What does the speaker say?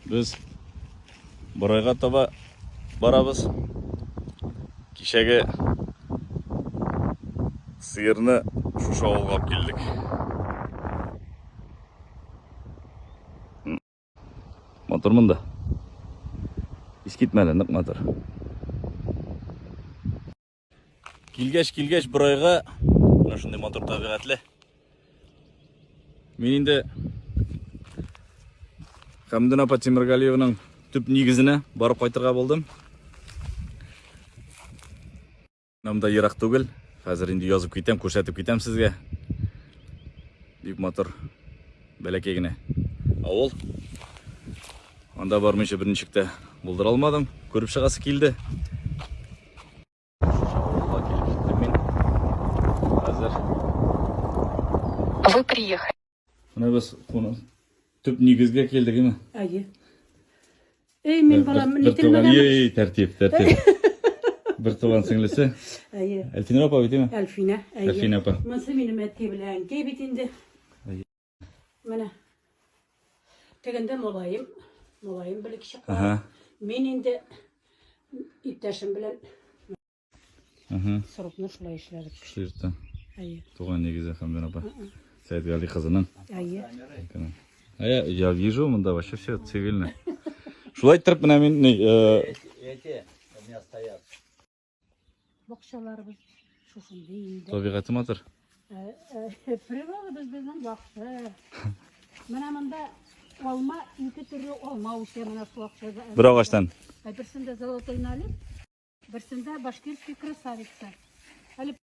Без Борайга таба барабыз. Кичәге сыерны шушы авылга алып килдек. Мотор монда. Искитмәле, нык мотор. Килгәч, килгәч, бер айга менә шундый матур табигатьле. Мин инде Хәмдүн апа Тимергалиевның төп нигезенә барып кайтырга булдым. Монда ерак түгел. Хәзер инде язып китәм, күрсәтеп китәм сезгә. Бик матур. Бәләкәй генә авыл. Анда бармыйча берничек тә булдыра алмадым. Күреп чыгасы килде. Вы приехали. Менә без куны төп нигезгә килдек, әйме? Әйе. Эй, мин балам, ни телмәгән? Эй, тәртип, тәртип. Бер туган сеңлесе. Әйе. Әлфинә апа бит, әйме? Әлфинә, әйе. Әлфинә апа. Монсы минем әти белән, кей бит инде. Менә. Тегендә молаем, молаем белек чыккан. Ага. Мин инде иптәшем белән Ага. срокны шулай эшләдек. Шулай итте. Әйе. Туган нигезе Хәмдән апа. Сәйд Гали кызының. Әйе. А я, я вижу, мында вообще все цивильно. Шулай иттереп менә мин ни, э, Эти у меня стоят. Бакчаларыбыз шушындый инде. Табигате матур. Э, э, природа безнең яхшы. Менә монда алма, ике төрле алма үсә менә су акчада. Бер агачтан. Ә берсендә золотой налип, берсендә башкирский красавица. Әле